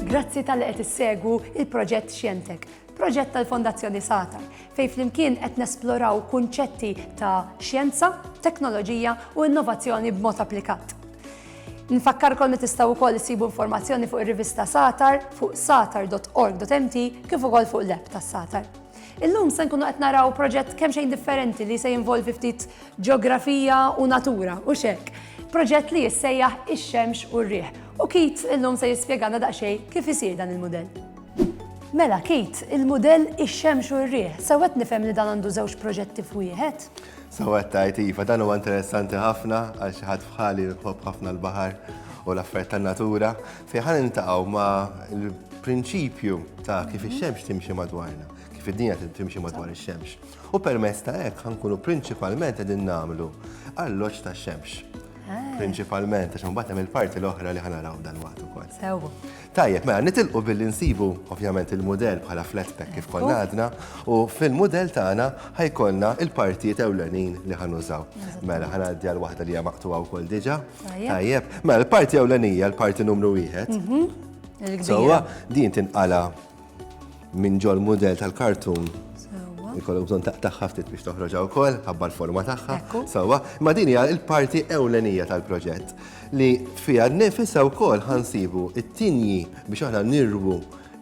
Grazzi tal-li qed issegwu il-proġett Xjentek, proġett tal-Fondazzjoni Satar, fej flimkien qed nesploraw kunċetti ta' xjenza, teknoloġija u innovazzjoni b'mod applikat. Nfakkarkom li tistgħu wkoll isibu informazzjoni fuq ir-rivista Satar fuq satar.org.mt kif ukoll fuq l-app tas-Satar. Illum se nkunu qed naraw proġett kemm xejn differenti li se jinvolvi ftit ġeografija u natura u xek. Proġett li jissejjaħ ix-xemx u r-riħ. U Kit illum se jispjegana daqsxejn kif isir dan il-mudell. Mela Kit, il-mudell ix-xemx u r-riħ, sewwet nifhem li dan għandu żewġ proġetti f'wieħed? Sewwet tajt iva, dan huwa interessanti ħafna għal xi ħadd bħali jħobb ħafna l-baħar u l-affarijiet tan-natura. Fejn ħa niltaqgħu ma' l-prinċipju ta' kif ix-xemx timxi madwarna, kif id-dinja timxi madwar ix-xemx. U permezz ta' hekk ħankunu prinċipalment qegħdin nagħmlu alloġġ ta' xemx. Ah. Prinċipalment, għax mbagħad hemm il-parti l-oħra li ħanaraw dan waqt ukoll. Sew. Tajjeb, mela nitilqu billi nsibu ovvjament il-mudell bħala flat pack kif konna għadna u fil-mudell tagħna ħajkollna il-partijiet ewlenin li ħanużaw. Mela ħanaddi għal waħda li hija maqtuha wkoll diġà. Tajjeb. Ma mela, l-parti ewlenija, l-parti numru wieħed. Mhm. Sewwa din tinqala minn ġol mudell tal-kartun. Ikollok bżonn taqtaħħa ftit biex toħroġha wkoll, ħabba l-forma tagħha. Sewwa, ma din hija l-parti ewlenija tal-proġett li fiha nnifisha wkoll ħansibu it-tinji biex aħna nirwu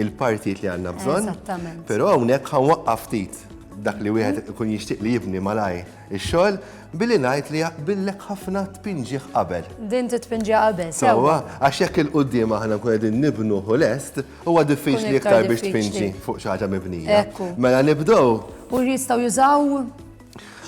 il-partijiet li għandna bżonn. Eżattament. Però hawnhekk ħanwaqqaf ftit dak li wieħed ikun jixtieq li jibni malaj Ix-xogħol billi ngħid li jaqbillek ħafna tpinġih qabel. Din titpinġiha qabel, sewwa. Sewwa, għax jekk il-quddiem aħna nkun qegħdin nibnuh u lest, huwa diffiċli iktar biex tpinġi fuq xi ħaġa mibnija. Mela nibdew. U jistgħu jużaw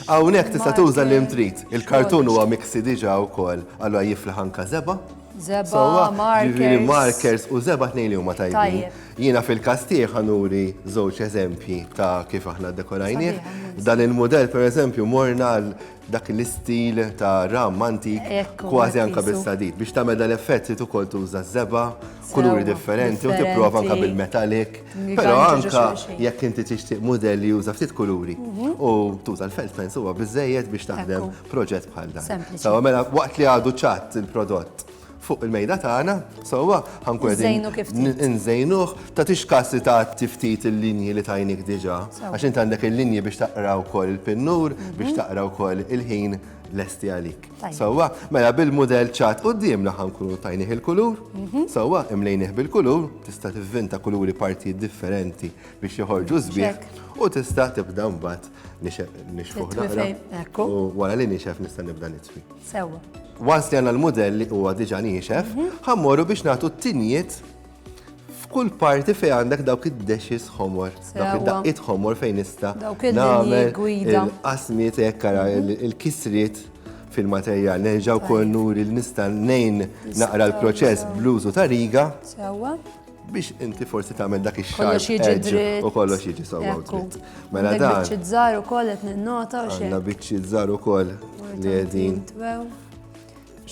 Hawnhekk tista' tuża li trid. Il-kartun huwa miksi diġà wkoll, allura jiflaħ anka żeba. Żeba, markers. Markers u żeba tnejn li huma tajbin. Jiena fil-każ tiegħi ħa nuri żewġ eżempji ta' kif aħna dekorajnieh. Dan il-mudell pereżempju morna għal dak l-istil ta' ram antik kważi anka bis-sadid. Biex tagħmel dan effett trid ukoll tuża żeba, kuluri differenti u tipprova anka bil-metallic. Però anka jekk inti tixtieq mudell li juża ftit kuluri mhm. u tuża l-felt pens huwa biżejjed biex taħdem proġett bħal dan. Sawa mela waqt li għadu ċatt il-prodott fuq il-mejda tagħna, sewwa ħankun qegħdin inżejnuh, ta' tix kassi ta' tiftit il-linji li tajnik diġà, għax int għandek il-linji biex taqra wkoll il-pinnur, mhm. biex taqra wkoll il-ħin lesti għalik. Sewwa, mela bil-mudell ċat qudiemna ħankunu tajnih il-kulur, mhm. sewwa imlejnih bil-kulur, tista' tivvinta kuluri partijiet differenti biex joħorġu żbieħ u tista' tibda mbagħad nixef nixfuħ naqra. U wara li nixef nista' nibda nitfi. Sewwa. Once li għandna l-mudell li huwa diġà niexef, ħammorru biex nagħtu t-tinjiet f'kull parti fejn għandek dawk id-dexis ħomor, dawk id-daqqiet ħomor fejn nista' nagħmel il-qasmiet hekk ara il-kisriet fil-materjal. Nerġa' wkoll nuri li nista' nejn naqra l-proċess bl-użu ta' riga. Sewwa. biex inti forsi tagħmel dak ix-xar u kollox jiġi sewwa dritt. Mela dan. Biċċi żgħar ukoll qed ninnota u xejn. Għandna biċċi żgħar ukoll li qegħdin.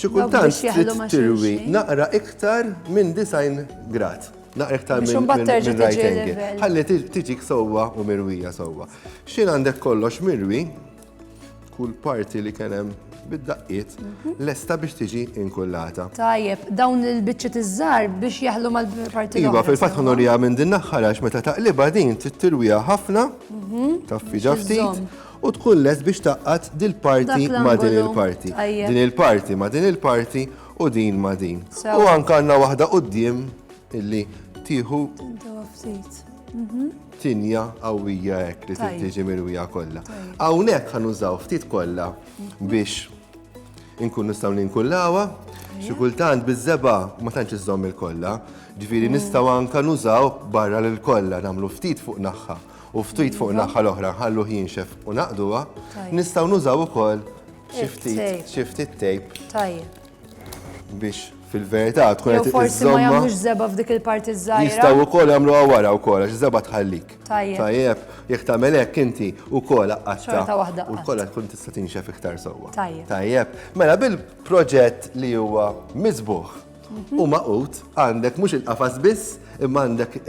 Xi kultant trid tirwi naqra iktar minn design grad. Naqra iktar minn right angle. Ħalli tiġik sewwa u mirwija sewwa. X'in għandek kollox mirwi, kull parti li kien hemm bid-daqqiet mhm. lesta biex tiġi inkullata. Tajjeb, dawn il-biċċiet iż-żar biex jaħlu mal-parti Iva, fil-fatt ħonorija minn din naħħar għax meta taqliba din tittirwija ħafna, mhm. taffi ġaftit, u tkun lest biex taqqat dil-parti ma' din il-parti. Din il-parti ma' din il-parti u din ma' din. U anka għandna waħda qudiem Illi tieħu. Tintawa ftit. Mhm. Tinja qawwija hekk li tiġi mirwija kollha. Hawnhekk ħan użaw ftit kollha mhm. biex inkun nistgħu ninkullawha. Xi kultant biż-żeba ma tantx iżżomm il-kollha. Ġifieri mm. nistgħu anke nużaw barra lil kollha nagħmlu ftit fuq naħħa u ftit fuq naħħa l-oħra ħallu jinxef u naqduha, nistgħu nużaw ukoll xi ftit tejp. Tajjeb. biex fil-verità tkun qed Forsi ma jagħmlux żeba f'dik il-parti żgħira. Jistgħu wkoll jagħmlu wara wkoll għax żeba tħallik. Tajjeb. Tajjeb, jekk tagħmel hekk inti wkoll qatta. waħda. U wkoll tkun tista' tinxef iktar sewwa. Tajjeb. Tajjeb. Mela bil-proġett li huwa miżbuħ mhm. u maqut għandek mhux il-qafas biss imma għandek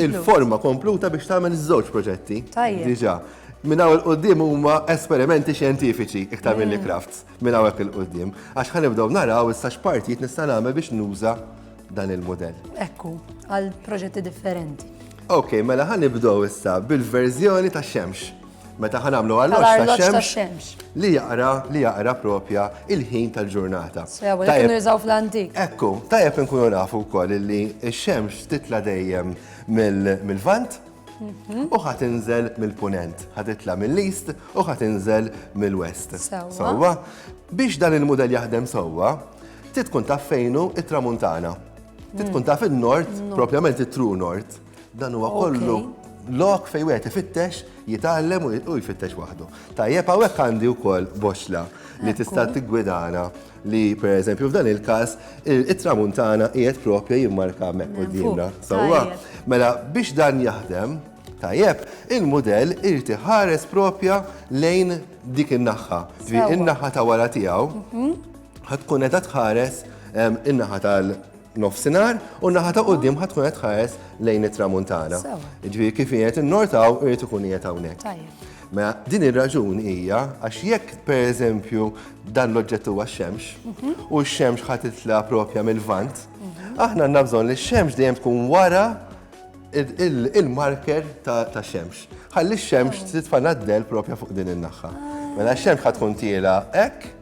il-forma kompluta biex tagħmel iż-żewġ proġetti. Tajjeb. Diġà. Minn hawn il-qudiem huma esperimenti xjentifiċi iktar mill-crafts. Mm. minn hawnhekk 'il quddiem, għax ħa nibdew naraw issa x'partijiet nista' nagħmel biex nuża dan il-mudell. Hekk hu, għal proġetti differenti. Ok, mela ħa nibdew issa bil-verżjoni ta' xemx. Meta ħa nagħmlu għall-oċ ta' xemx li jaqra li jaqra propja il-ħin tal-ġurnata. Tajjeb nużaw fl-antik. Ekku, tajjeb inkunu nafu wkoll li x-xemx titla' dejjem mill-vant u ħat inżel mill-punent, ħat itla mill-east u ħat inżel mill-west. Sewwa. Biex dan il-model jaħdem sewwa, titkun taf fejnu it-tramuntana. Titkun taf il-nord, propjament it-true nord. Dan huwa kollu lok fej wieħed ifittex, jitgħallem u jfittex waħdu. Tajjeb hawnhekk għandi wkoll boxla li tista' tiggwidana li per eżempju f'dan il-każ it-tramuntana qiegħed propja jimmarka hemmhekk qudiemna. Sewwa, mela biex dan jaħdem tajjeb, il-mudell irid iħares propja lejn dik in-naħħa. In-naħħa ta' wara tiegħu mhm. ħatkun qed tħares in-naħa tal- nofsinhar u naħa ta' quddiem ħadd tkun qed tħares lejn it-tramuntana. Ġifieri kif qiegħed innortaw irid ikun qiegħed hawnhekk. Mela din ir-raġun hija għax jekk pereżempju dan l-oġġett huwa x-xemx mhm. u x-xemx ħadd titla' propja mill-vant, mhm. aħna għandna bżonn li x-xemx dejjem tkun wara il-marker ta' xemx. Ħalli x-xemx oh. titfana d-del propja fuq din in-naħħa. Ah. Mela x-xemx ħatkun tiela hekk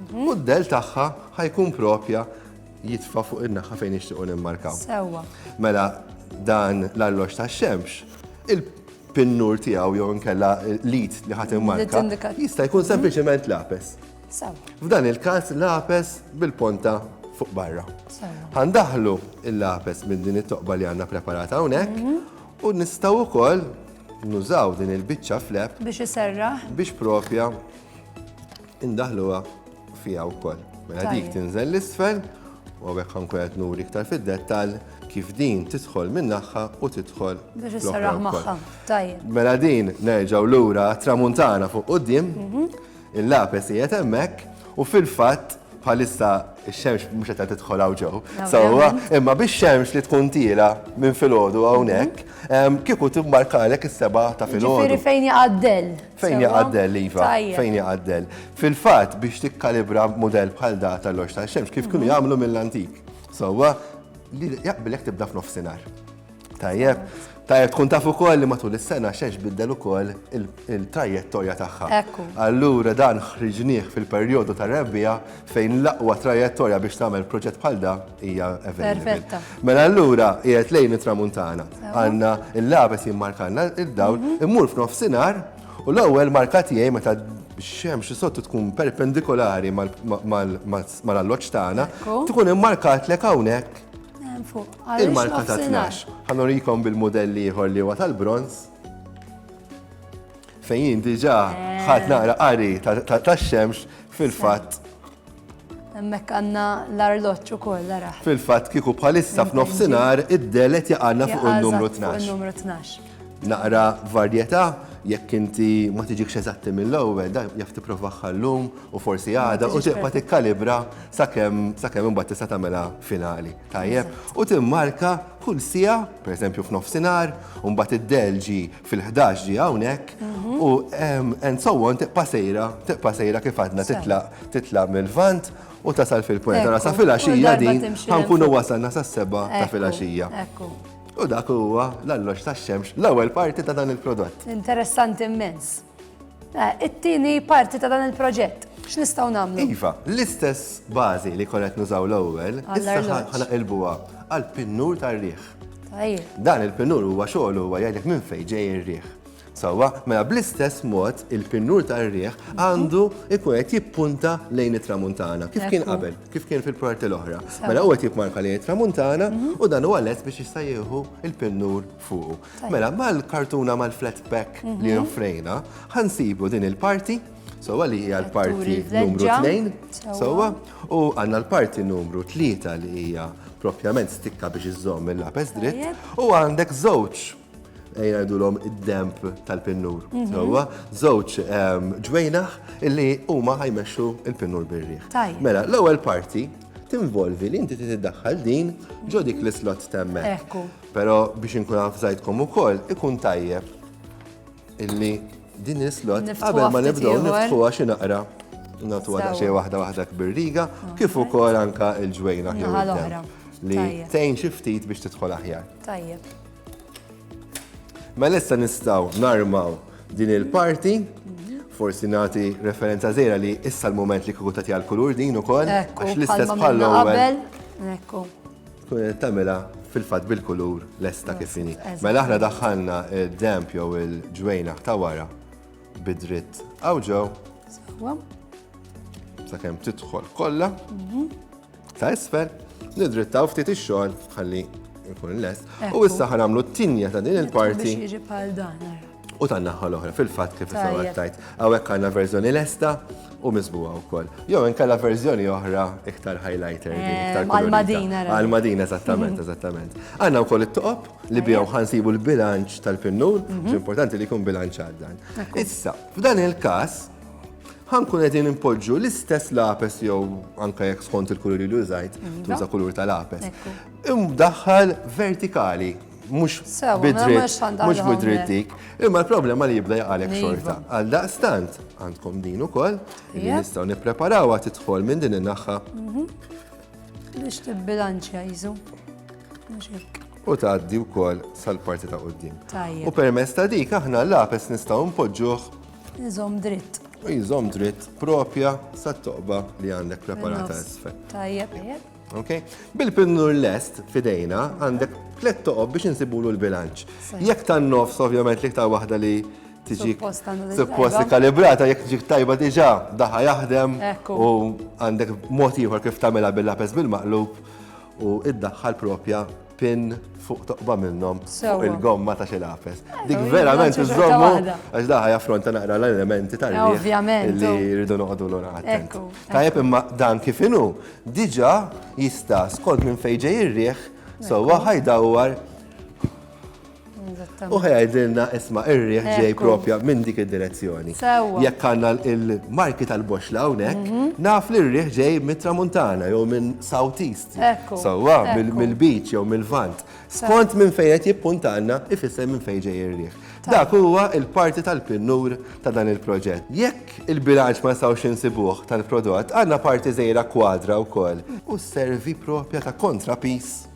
mhm. u d-del tagħha ħajkun propja jitfa' fuq in-naħa fejn nixtiequ nimmarkaw. Sewwa. Mela dan l-allox tax-xemx, il-pinnur tiegħu jew inkella l-id li ħadd immarka jista' jkun sempliċement lapes. F'dan il-każ lapes bil-ponta fuq barra. Għandaħlu il-lapes minn din it-toqba li għandna preparata hawnhekk mhm. u nistgħu wkoll nużaw din il-biċċa flep biex iserra biex propja indaħluha fija wkoll. Mela dik Tajjeb. tinżel l-isfel u għawek ħankun qed nuri iktar fid-dettall kif din tidħol minn naħħa u tidħol Biex fl-oħra isserraħ wkoll. magħha. Tajjeb. Mela din nerġaw lura tramuntana fuq qudiem, il-lapes qiegħed hemmhekk u fil-fatt bħalissa x-xemx mhux qed tidħol hawn ġew. Sewwa, imma bix-xemx li tkun tiela minn filgħodu hawnhekk, em, kieku timmarkalek is-seba ta' filgħodu. Ġifieri fejn jaqaddel. Fejn jaqa' d-dell, Iva? Fejn jaqa' d-dell? Fil-fatt biex tikkalibra mudell bħal da tal-loġ tax-xemx kif kienu jagħmlu mill-antik. Sewwa li jaqbilek tibda f'nofsinhar. Tajjeb. Tajjeb tkun taf ukoll li matul is-sena xemx biddel ukoll il-trajettorja tagħha. Allura dan ħriġnieh fil-perjodu tar-rebbiegħa fejn l-aqwa trajettorja biex tagħmel proġett bħal da hija Perfetta. Mela allura qiegħed lejn it-tramuntana. Għandna l-labes jimmarkanna id-dawl, mhm. immur f'nofsinhar u l-ewwel marka tiegħi meta xemx sottu tkun perpendikolari mal-alloċ tagħna, tkun immarkat lek hawnhekk il-marka ta' 12. Ħanurikom bil-modelli ieħor li huwa tal-bronz. Fejn jien diġà ħadd naqra qari tax-xemx fil-fatt. Hemmhekk għandna l-arloġġ ukoll ara. Fil-fatt kieku bħalissa f'nofsinhar id-delet jaqgħadna fuq in-numru 12. Naqra varjetà jekk inti ma tiġikx eżatti mill-ewwel, da jaf tipprova ħallum u forsi għada u tibqa' tikkalibra sakemm sakemm imbagħad tista' tagħmilha finali. Tajjeb, u timmarka kull sija, pereżempju f'nofsinhar, u mbagħad id-delġi fil-ħdax ġi hawnhekk u and so on tiqpa' sejra, tiqpa' sejra kif għadna titlaq titlaq mill-vant u tasal fil-pwent. Ara sa fil-għaxija din ħankunu wasalna sa seba ta' fil-għaxija. U dak huwa l-alloġ tax-xemx l-ewwel parti ta' dan il-prodott. Interessanti immens. Eh, it-tieni parti ta' dan il-proġett. X'nistgħu nagħmlu? Iva, l-istess bażi li konet nużaw l-ewwel, issa ħana ilbuha għal pinnur tar-riħ. Dan il-pinnur huwa xogħol huwa jgħidlek minn fejn ġej ir-riħ. Sawa, mela bl-istess mod il-pinnur tar-riħ għandu ikun qed jippunta lejn it-tramuntana. Kif kien qabel, kif kien fil-parti l-oħra. Mela huwa qed jipmarka lejn it-tramuntana mhm. u dan huwa lest biex jista' jieħu il-pinnur fuqu. Mela, mal-kartuna mal-flat pack li offrejna, ħansibu din il-parti, sowa li hija l-parti numru 2, sowa, u għanna l-parti numru 3 li hija propjament stikka biex iżżomm il-lapes dritt, u għandek żewġ ejna l-om id-demp tal-pinnur. Mhm. Sowa, żewġ ehm, ġwejnaħ illi huma ħajmexxu il-pinnur birriħ. Mela, l-ewwel parti tinvolvi li inti tiddaħħal din ġodik l-islot temmek. Pero biex inkun avżajtkom ukoll ikun tajjeb illi din is-slot qabel ma nibdew niftħuha xi naqra nagħtuha daqsxejn waħda waħda kbirriga kif ukoll anka l-ġwejna ħewwidna li tgħin xi ftit biex tidħol aħjar. Tajjeb. Mela issa nistgħu narmaw din il-parti forsi nagħti referenza żejra li issa l-mument li kieku tagħti għall-kulur din ukoll għax l-istess bħal-ewwel. Ekku. tagħmilha fil-fatt bil-kulur lesta kif inhi. Mela aħna daħħalna d-damp jew il-ġwejnaħ ta' wara bidritt għaw ġew. Sakemm tidħol kollha. Mhm. Ta' isfel, nidrittaw ftit ix-xogħol ħalli jkun lest. U issa ħanamlu t-tinja ta' din il-parti. Biex jiġi bħal dan. u tan-naħa l-oħra fil-fatt kif issa għattajt. Hawnhekk għandna verżjoni lesta u miżbuha wkoll. Jew inkella verżjoni oħra iktar highlighter din eh, iktar għal-Madina. Għal-Madina eżattament, eżattament. Għandna wkoll it-toqob li bihom ħansibu l-bilanċ tal-pinnun, mhm. importanti li jkun bilanċ għal dan. Issa, f'dan il-każ, ħankun qegħdin impoġġu l-istess lapes jew anke jekk skont il-kulur li użajt, tuża kulur tal-lapes. Imdaħħal vertikali mhux bidrit, mhux bidrit dik. Imma l-problema li jibda jaqalek iva. xorta. Għal daqstant, għandkom din ukoll, li nistgħu nippreparawha tidħol minn din in-naħħa. Mhm. Biex tibbilanċja jiżu. U tgħaddi wkoll sal-parti ta' qudiem. U permess ta' dik aħna l-lapes nistgħu npoġġuh. Iżom dritt. Iżom dritt propja sat-toqba li għandek preparata isfel. Tajjeb, tajjeb. Okay? Bil-pinnur lest fidejna għandek tlet toqob biex insibulu l-bilanċ. Jekk tan nofs ovvjament li ktar waħda li tiġi supposti kalibrata jekk tiġi tajba diġà daħa jaħdem u għandek mod ieħor kif tagħmilha bil-lapes bil-maqlub u id-daħħal propja pin fuq toqba minnhom fuq il-gomma ta' xi lapes. Dik verament iżommu għax daħħa jaffronta naqra l-elementi tal Ovvjament. Li jridu noqogħdu lura attent. Tajjeb imma dan kif inhu diġà jista' skont minn fejn ġej ir-riħ sewwa ħajdawwar U ħajdilna isma irriħ ġej propja minn dik id-direzzjoni. Jekk għanna il-marki tal-boxla unek, mhm. naf li rriħ ġej mit-tramuntana jew minn southeast. Sawa, mill-beach jew mill-vant. Skont minn fejn qed jippuntanna ifisser minn fejn ġej irriħ. Dak huwa il-parti tal-pinnur ta' dan il-proġett. Jekk il-bilanċ ma nistgħux insibuh tal-prodott, għandna parti żejra kwadra wkoll u servi propja ta' kontrapis